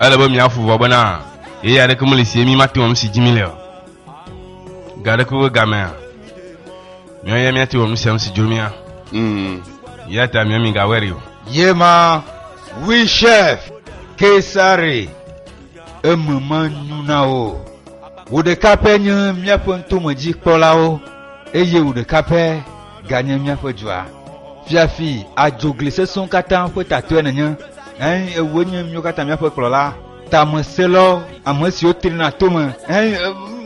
Ele be míafu vɔ bena yeye aɖeke meli si ye mí mate wɔm si dzi míle o. Ga aɖeke ƒe gamea, míawo ya míate wɔ nu sia nu si dzro mía. Mm. Eya ta mia migawɔe ɖi o. Ye ma wui chef Kesare eme menyu na wo. Wò ɖeka pɛ nye míaƒe ŋtomedzikpɔlawo eye wò ɖeka pɛ ganye míaƒe dua. Fiafi adzogli sesẽwo katã ƒe tatɔe nènye, eye wòe nye míwo katã míaƒe kplɔla. Tameselɔ, ame siwo trina tome, eye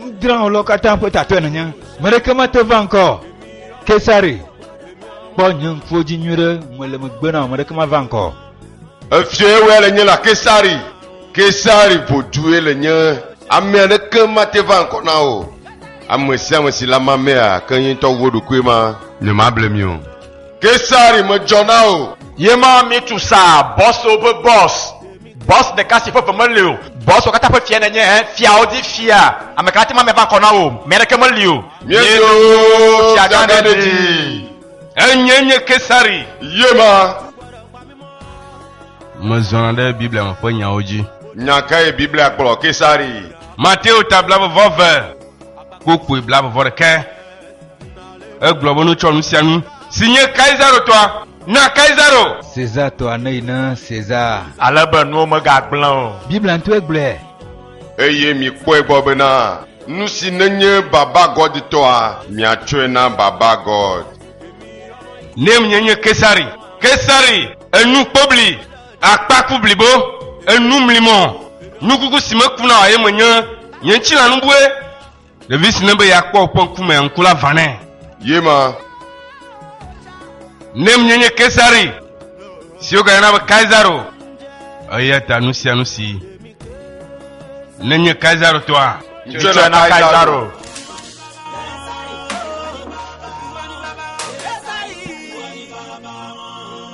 nudrãwɔlɔwo katã ƒe tatɔe nènye. Meɖeke mate va ŋkɔ Kesare. Kpɔ nye ŋkuwo dzi nyuiɖe, mele megbe na wò, meɖeke mava ŋkɔ. Efiɔe wea le nye la Kesari, Kesari vodue le nye. Ame aɖeke mate va ŋkɔ na o. Ame sia ame si le ama mea, ke ye ŋutɔ wu eɖokui ma. Nyemable mi o. Kesari medzɔ na o. Ye ma mi tu sa bɔswo ƒe bɔs. Bɔs ɖeka si ƒe ve meli o. Bɔswo katã ƒe fia nènye ẽ, fiawo dzi fia. Ame ka ate ŋu ame va ŋkɔ na wò? Mi aɖeke meli o. Míedo fiagã ɖe dzi. Enye nye Kesari. Yema. Mezɔna ɖe Biblia me ƒe nyawo dzi. Nya kae Biblia kplɔ Kesari? Mateo ta blabevɔ ve, kpokpui blabevɔ ɖekɛ. Egblɔ be nutsɔ nu sia nu si nye Kaisaro tɔa na Kaisaro. César tɔa neyi na César. Ale be nuwo megagblẽ o. Biblia ŋutɔe gblɔe. Eye mikpɔe gbɔ bena, nusi nenye baba gɔditɔa, miatsɔe na baba gɔd. Nɛ nye nye Kesari, Kesari, enu kpobli, akpa ku blibo, enu mlimɔ, nukuku si mekuna o, eye menye nye ŋtsi lanubue. Ɖevi si ne be yeakpɔ woƒe ŋkumea, ŋku la va nɛ. Ye ma. Ne mnye nye Kesari, si wogayɔna be Kaisaro, eya ta nu sia nu si nenye Kaisaro tɔa, tsɔe na Kaisaro.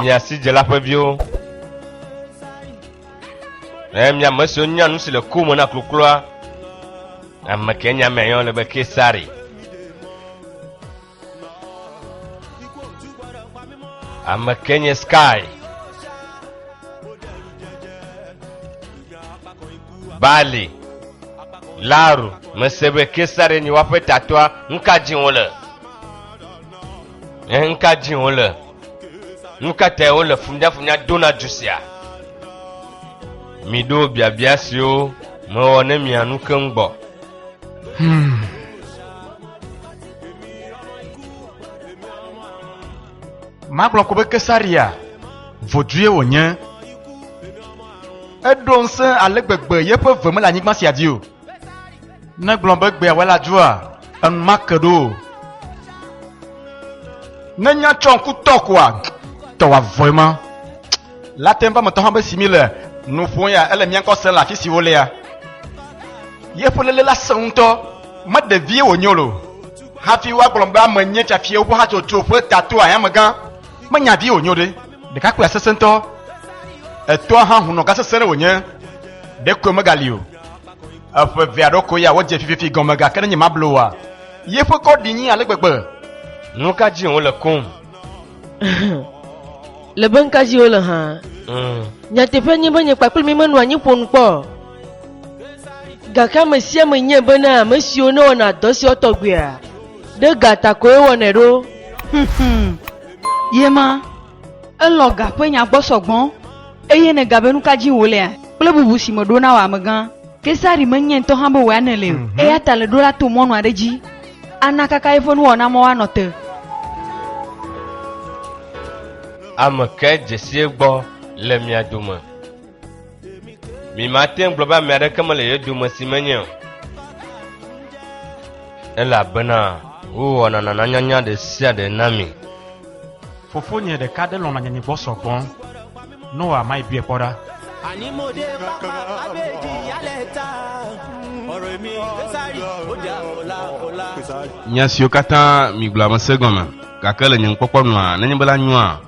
Miasidzela ƒe viwo. Eye mia ame siwo nya nu si le ku me na klukloa, ame ke nya mea yɔ le be Kesari. ame ke nye sky bali laru mese be kesare nye woaƒe tatɔa nuka dzi wole eh, nuka dzi wole nuka tae wole funyafunya dona du sia miɖo biabia siwo mewɔ ne mianu keŋ gbɔ hmm. magblɔ ko be kesaria vodue wònye eɖo ŋusẽ ale gbegbe yeƒe ve mele anyigba sia dzi o ne gblɔ be gbea wela dzua enumake ɖo o ne nya tsɔ ŋku tɔ koa tɔwavɔe ma Latin ƒe metɔ hã be si mi le nu ƒom ya ele mía ŋkɔ se le afi si wolea. Yeƒe lele la sẽ ŋutɔ, me ɖevie wònyo lo. Hafi woagblɔ be ame nye tsafi woƒe hatsotso ƒe tato ayamegã, menya vi wònyo ɖe. Ɖekakpuia sesẽ ŋutɔ, etɔa hã hunɔ gã sesẽ ɖe wònye, ɖekoe megali o. Eƒe eve alo koe ya wodze fififi gɔme gake ne nyemablo oa, yeƒe kɔ ɖi nyĩ ale gbegbe. Nu ka dzi wòle kum? le be ŋka dzi wole hã. Mm. Nyateƒe nye be nye kpakple mi menɔ anyi ƒo nu kpɔ. Gake ame sia ame nye be na ame siwo ne wɔna dɔ sia tɔgbuia, ɖe ga ta koe wɔnɛ ɖo. Ye ma, elɔ ga ƒe nya gbɔ sɔgbɔ, eye ne ga be nuka dzi wòlea kple bubu si meɖo na wò amegã. Kesari menyae ŋutɔ hã be wòanɛ le o, mhm. eya ta le ɖo la to mɔnu aɖe dzi ana kaka yeƒe nuwɔna mɔ woanɔ te. Ame kae dzesie gbɔ le mia dome? Mi mate ŋu gblɔ be ame aɖeke mele ye dome si menye o. Elabena wowɔna nananyanya ɖe sia ɖe na mi. Fofonye ɖeka ɖe lɔ̃na nye gbɔ sɔgbɔ. Noa mai biɔe kpɔ ɖa. Ani mo de papa abe di yale ta. Ɔrɔ mi kesari oja ola ola. Nya siwo katã migblɔa mesẽ gɔme, gake le nye nukpɔkpɔ nua, nenye be la nyoa,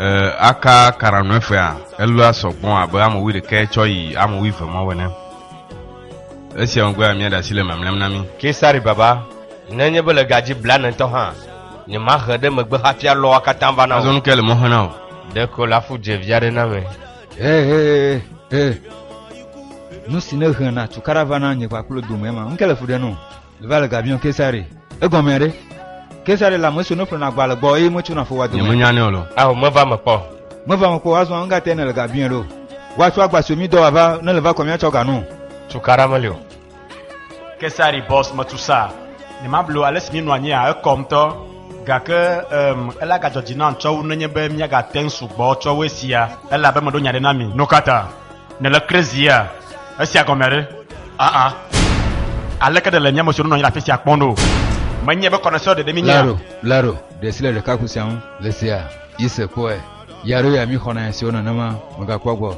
e, aka kara nɔe fea, elɔa sɔ gbɔ abe ame wuiɖekɛ tsɔ yi ame wuive mawo ene. Esia megbea, míaɖe asi le mamlɛam na mí. Kesari baba, nenye be le ga dzi blanetɔ hã. Nye ma he ɖe megbe hafi alɔ wa katã va na o. Azɔ nu ke le mɔ hena o. Ɖe ko la fu dzevi aɖe na me. He he he. Nu si ne he na tukaɖa va na nye kpakple dome ma. Nuke le fu ɖe no. Leva le gabion kesare. Egɔme aɖe. Kesare la meso ne ƒle na gba le gbɔ eye metso na fo wa dome. Nye menya ne o lo. Aho meva me kpɔ. Meva me kpɔ azɔ anga te ne le gabion ɖo. Wa tsɔ agba so mi dɔ wa va ne le va kɔ mi atsɔ ganu. Tukaɖa me le o. Kesari bɔs metu sa ne mablo ale si míenɔ anyia ekɔ ŋutɔ gake um, ele agadzɔ dzi nam tsɔwu nenye be míagate ŋu sugbɔ tsɔwu esia ele abe meɖo nya ɖe na mi. Nu ka ta? Nèle krizia? Esia gɔme ɖe? Aa. Aleke ɖe le nye ame siwo nɔ anyi le afi sia kpɔm ɖo? Menye be kɔnɛsɔ ɖeɖe míenye. Laro, Laro, ɖe si le ɖekakpui sia ŋu le sia, yi se kpɔe. Ya ɖo ya mi xɔna nya siwo nenema megakpɔ gbɔ.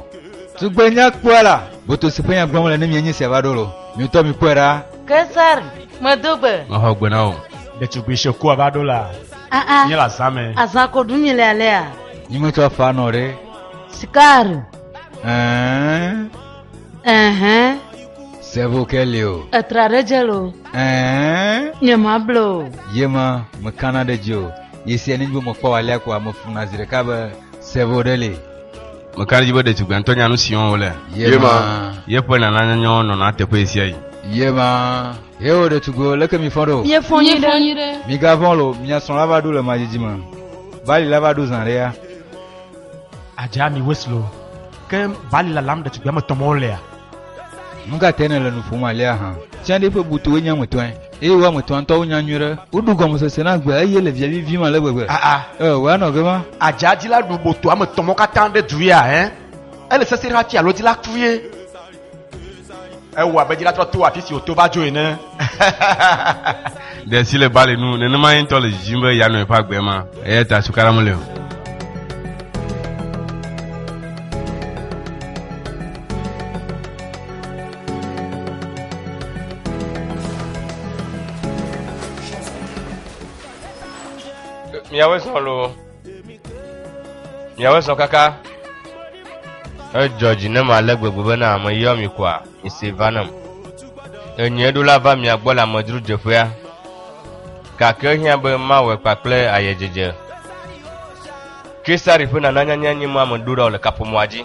Tugbenya kpɔa la, boto si ƒe nya gblɔm le ne mienye sia va ɖo lo. Mi ŋutɔ mi kpɔe ɖa. Kesar, medo gbe. Mexɔ gbe na wò. Ɖetugbui Shekua va ɖo la. Aa. Nye le azã me. Azã ko ɖum mi le alea? Nyi metsɔ afaa nɔ ɖe. Sikar. Ɛɛ. Ɛhɛn. Sevo ke li o. Etra ɖe dze lo. Ɛɛ. Nye ma ble o. Ye ma, mekana ɖe dzi o. Ye sia nenye be mekpɔ alea ko ame funa zi ɖeka be sɛvo ɖe li. Meka ɖe dzi be ɖetugbea ŋutɔ nya nu si wɔm wòle. Ye ma. Yeƒe nananyanyawo nɔna teƒe ɣe sia ɣi. Ye ma. Heo ɖetugbiwo, leke mifɔ ɖo? Miefɔ nyi ɖe. Migavɔ̃ lo, mia srɔ̃ la va ɖo le madzidzi me. Bali la va ɖo zã ɖea. Adzea mi wes lo. Ke bali lalam ɖetugbia me tɔmɔwo lea. Nukatae nèle nu ƒom alea hã? Tsã ɖe ƒe butuwoe nye ame tɔe. Eye wo ame etɔ̃a ŋutɔ wonya nyuie ɖe. Woɖu gɔmesese na gbea, eye le via vivim ale gbegbe. Aa. Eo, wòanɔ abe ma. Adzadzila ɖu boto ame etɔ̃ mawo katã ɖe du ya, ɛ̃. Ele sesẽ ɖe hafi alɔdzila kue. Ewɔ abe dzila trɔ to afi si wòto va dzo ene. Ɖe si le bali nu, nenema ye ŋutɔ le dzidzim be yeanɔ eƒe agbe ma. Eya ta suka la meli o. miawe sɔn lo miawe sɔn kaka edzɔ dzi ne ma le gbegbe be na ame yɔ mi kɔa ese va nam enye ɖo la va mia gbɔ le amedzro dzeƒea gake hiã be mawɔe kpakple ayedzedze kesari ƒe nananyanya nye ma me ɖo ɖa le kaƒomɔa dzi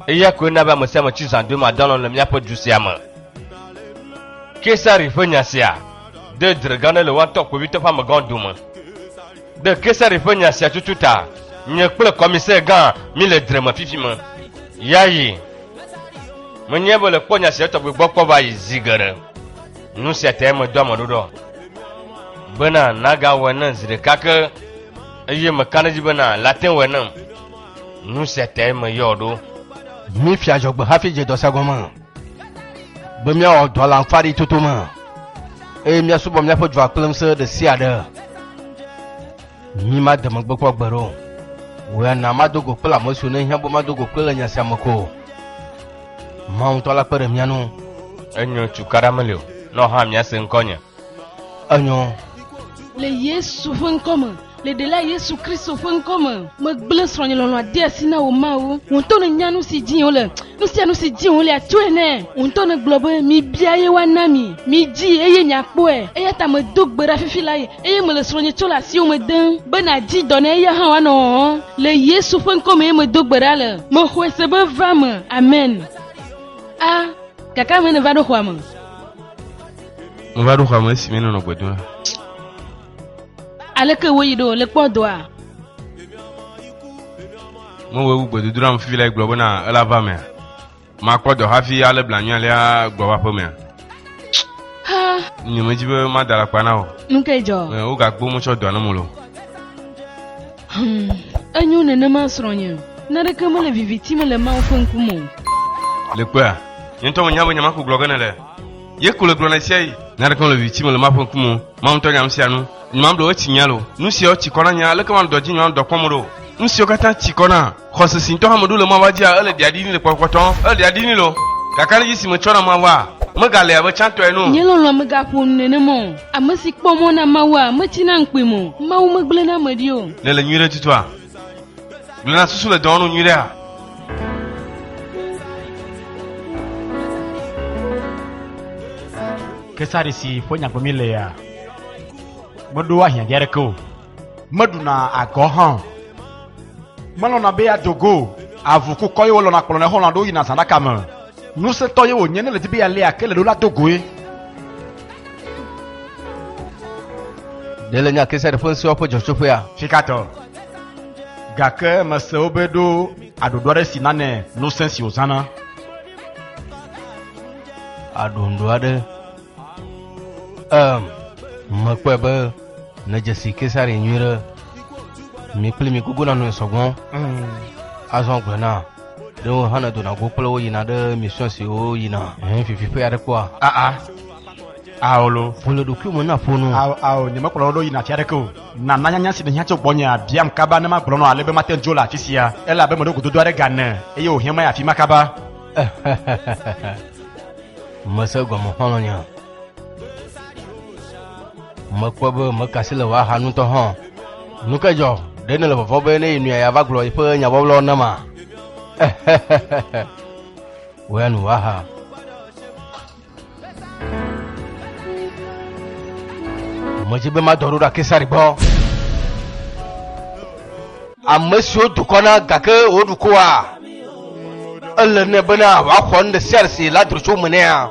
Eya koe na be ame sia ame tsi zã dome adɔ alɔ̃ le míaƒe du sia me. Kesari ƒe nya sia de dzre gã aɖe le woatɔ kpovitɔ ƒe amegãwo dome. Ɖe Kesari ƒe nya sia tutu ta, nye kple kɔmisɛ gã míle dzre me fifi me. Yayi. Menyae be le kpɔ nya sia tɔgbe gbɔ kpɔ va yi zi geɖe. Nu sia tae medo ame ɖoɖɔ bena nagawɔe ne zi ɖeka ke eye mekana edzi bena late ŋu wɔe nam. Nu sia tae meyɔ ɖo. Míefia adzɔgbe hafi dze dɔsa gɔme, be míawɔ dɔ le amfani toto me, eye míasubɔ míaƒe dua kple ŋusẽ ɖe sia ɖe. Mi made megbe kpɔ gbe ɖo. Wò ya na mado go kple ame siwo nehiã be mado go kple le nya sia me ko. Mawu ŋutɔ la kpe ɖe mía ŋu. Enyo cukaɖa meli o, nɔ hã míase ŋkɔnye. enyɔ. Le Yesu ƒe ŋkɔ me, le ɖela Yesu Kristo ƒe ŋkɔ me, megblẽ srɔ̃nye lɔlɔ̃a de asi na wò mawu. Wò ŋutɔ nènya nu si dim wole. Nu sia nu si dim wole atsoe nɛ. Wò ŋutɔ nègblɔ be, Mibia eye woana mi. Midii eye miakpɔe. Eya ta medo gbe ɖa fifi lae eye mele srɔ̃nye tsɔ le asiwò me dem be nàdi dɔ nɛ eya hã wòanɔ hɔhɔm. Le Yesu ƒe ŋkɔ mee medo gbe ɖa le. Mexɔe se be va eme. Amen. A, Gake ame ene va ɖo xɔa me. Meva ɖo xɔa me esi mi nɔnɔ gbe dom la. Aleke woyi ɖo le kpɔ doa? Mewɔ ewu gbedodoɖa me fifi la gblɔ bena ela va mea. Makpɔ dɔ hafi ale blanui alea gbɔ va ƒe mea. Nye medzi be mada la kpa na o. Nu ke dzɔ? Wogagbo motsɔ dɔa ne mo lo. Hmm, enyo nenema srɔ̃nye. Naneke mele viviti me le Mawu ƒe ŋkume o. Le kpea? Nye ŋutɔ menya be nyemako gblɔ ge nele. Ye ko le gblɔ na sia yi. Nya aɖeke mele viviti me le Mawu ƒe ŋkume o. Mawu ŋutɔ nya nu sia nu. Nye mamɖe wo etsi nya lo. Nu siawo tsi kɔ na nye, aleke manɔ dɔ dzi nye manɔ dɔ kpɔm ɖo? Nu siwo katã tsi kɔ na. Xɔse si ŋutɔ hã meɖo le Mawua dzia, ele ɖia ɖini le kpɔtɔkpɔtɔ. Ele ɖia ɖini lo. Gake anedzi si metsɔ na Mawua, megale abe tsãtɔ ene o. Nye lɔlɔ̃a megaƒo nu nenema o. Ame si kpɔ mɔ na Mawua, metsina ŋkpim o. Mawu megblẽ na ame ɖi o. Nèle nyui ɖe tutua? Gblẽ na susu le dɔwɔnu nyui ɖea? Kesari si ƒe nyagbe mi lea, meɖo ahiã dzi aɖeke o. Meɖuna agɔ hã o. Melɔ̃na be yeado go o. Avu ku kɔ ye wòlɔ̃na kplɔnɛ xɔlɔ̃ aɖewo yina zãɖaka me. Ŋusẽtɔ ye wònye ne le di be yealé ake le ɖo la do goe. Ɖe le nya Kesare ƒe ŋusẽwo ƒe dzɔtsoƒea? Fikatɔ. Gake mese wo be ɖo aɖoɖo aɖe si nane ŋusẽ si wòzãna. Aɖoŋɖo aɖe. Em, mekpɔe be nedze si Kesare nyuie ɖe mi kple mi gogo nanɔe sɔgbɔ. Azɔ gblɔe na. ɖe wo hã ne dona go kple wo yina ɖe mission si wo yina hɛn fifi ƒe aɖe kpɔa aa ah, ah. aolo ƒole ɖokui me na ƒonu ao ao nyemekplɔ wo ɖo yina afi aɖeke o nana nyanya si nèhiã tso gbɔnye abiam kaba ne magblɔ nɔ ale be mate ŋu dzo le afi sia ele abe meɖo gododo aɖe gane eye wòhiã maya afi ma kaba mese gɔme xɔlɔ̃nya Mekpɔ be mekasi le woaxa nutɔ hã. Nu ke dzɔ, ɖe nele vɔvɔ be ne yi nɔe yeava gblɔ eƒe nyabɔblɔ nama? Woya nu woaxa. Medzi be madɔ ɖo ɖa Kesari gbɔ. Ame siwo dukɔ na gake woɖu koa, ele nɛ bena wòaxɔ nu ɖe sia ɖe si la dro tso me nɛa?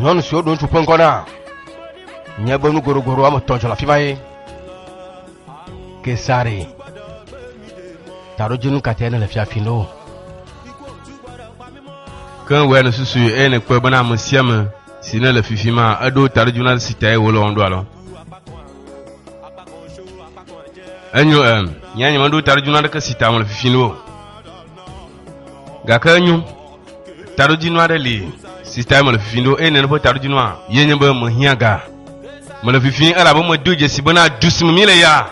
nyɔnu siwo ɖo ŋutsu ƒe ŋkɔ na nye be nu goɖogoɖo woame etɔ̃ dzɔ le afi ma ye kesare taɖodzinu katɛ ne le fiafi ne o ke wòe le susu eye nekpɔe bena ame sia ame si ne le fifi ma eɖo taɖodzinu na si tae wòle wɔm ɖo alɔ enyo em nyanya meɖo taɖodzinu aɖeke si ta wòle fifi ne o gake enyo taɖodzinu aɖe li si tae mele fifim ɖo eye nene ƒe taɖodzinua ye nye be mehiã ga mele fifim elabe medo dzesi bena du si me mi le ya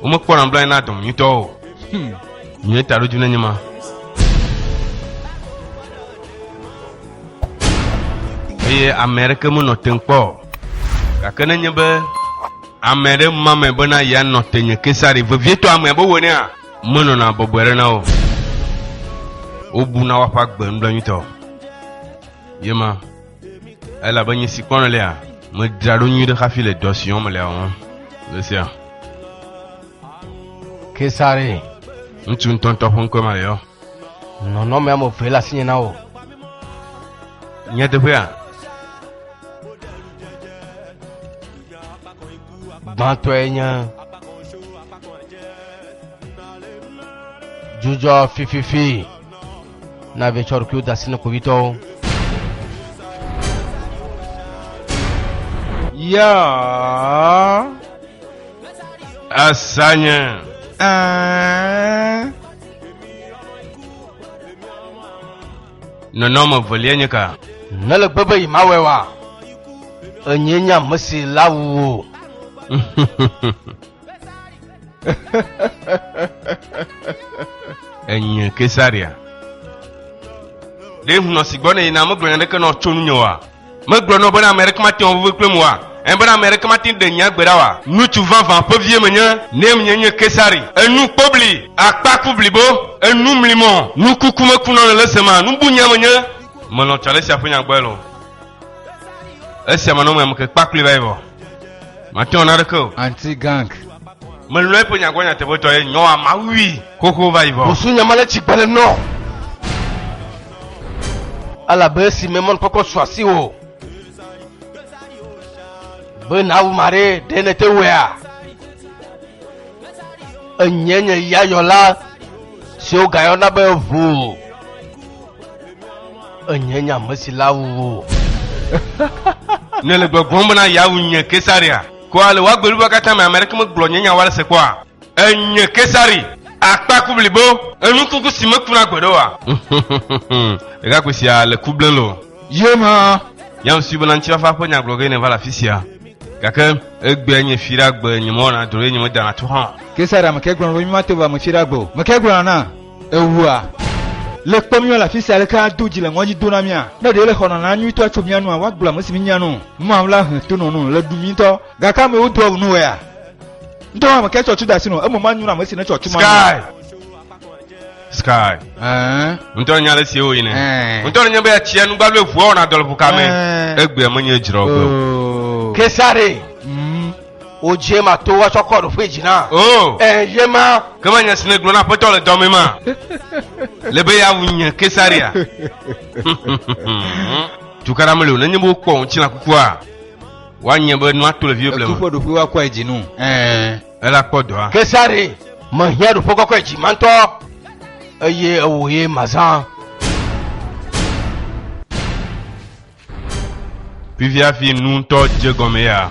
womekpɔ nablanyi na dɔm nyuitɔ o hmm. nye taɖodzinu enye ma eye ame aɖeke menɔ te kpɔ gake nenye be ame aɖe ma me bena yeanɔ te nye kesari vevietɔ ame abe wonea Menɔna bɔbɔe ɖe na wo. Wobuna woƒe agbe nublanuitɔ. Ye ma, elabe nye si kpɔnɔ lea, medzra ɖo nyuie ɖe hafi le dɔ si wɔm mele la wɔm le sia. Kesare. Ŋutsu ŋutɔŋutɔ ƒe ŋkɔe ma le yɔ. Nɔnɔme ame eve le asinye na wò. Nyateƒea, gbãtɔe nye dzudzɔ fififi na vie tsɔ ɖokuiwo da asi ne kpovitɔwo ya asanye ɛɛ Nɔnɔme evelia nye ka? Nele gbe be yemawɔe wa? Enyee nye ame si la wu wò. Enye Kesaria. Ɖe ŋunɔ si gbɔ ne yina megblɔ nya ɖeke nɔ tso nunye wa? Megblɔ nɔ bena ame aɖeke mate ŋu aʋuʋu kplem oa? Ẽ, bena ame aɖeke mate ŋu ɖe nya gbe ɖa oa? Ŋutsu vavã ƒe vie menye, ne menye nye Kesari. Enu kpobli, akpa ku blibo, enu mlimɔ, nukuku mekunɔ le le sema, nubunya menye. Melɔ̃ Tsalesia ƒe nya gbɔe loo. Esia manɔ ŋmɛ ameke kpakpli va yi vɔ. Mate ŋu ana ɖeke o. Anti gang. Melɔ̃ eƒe nya gbɔ nyateƒetɔe, nyɔa mawui xoxo va yi vɔ. Busunya ma le tsi gbe le nɔ. Elabe esi me mɔnukpɔkpɔ su asiwò be nàwu ma ɖe ɖe nete wɔea? Enye nye ya yɔla si wogayɔna be ʋu. Enye nye ame si la wuwo. Nèle gbɔgblɔm bena yeawu nye Kesaria? Ko ale wòagbeli be katã me ame aɖeke megblɔ nye nya wa ɖe se kpɔa? Enye Kesari, akpa ku blibo. Enu kuku si mekuna gbeɖe oa? Ɖekakpui sia le ku blem lo. Ye ma. Yam sui bena ŋutifafa ƒe nya gblɔ ge nèva le afi sia. Gake egbea nye fi ɖa gbe nye mewɔna dro ye nye medana to hã. Kesari ame kae gblɔ na wò be mímato va ame fi ɖa gbe o? Ame kae gblɔna na ewua? Le kpɔ míwɔ le afi sia aleke ado dzi le ŋɔdzi do na mía. Ne ɖee le xɔnana nyuitɔa tso mía nua, woagblɔ ame si mínya no. Mawla he to nɔ no le ɖu mí ŋutɔ Gake ame wo dɔg nu wɛa. Ŋdɔ ame kɛ tsɔ tsu da si no, emo ma nyu na ame si ne tsɔ tsu ma. Sky. Sky. Eh. Ŋdɔ nya le si wo yi ne. Eh. Ŋdɔ nya be atsia nu gbalo evu awon adol bu kame. Eh. Egbe ame nye dzro gbe. Oh. Kesare. Mm. O je ma to wa tsɔ kɔ do fe jina. Oh. Eh, je ma. Kema nya sine glo na petɔ le dɔme ma. Le be ya wunye Kesaria. Tukara mele o, nenye bo kpɔ ŋtsi na kukua. Woanye be nua to le viwo blema. Etu ƒe ɖoƒe woakɔe dzi nu. Ɛɛ. Ela kpɔ dɔa. Kesare, mehiã ɖoƒe kɔkɔe dzi ma ŋutɔ, eye ewò ye mazã. Fifia fi nu ŋutɔ dze gɔme ya.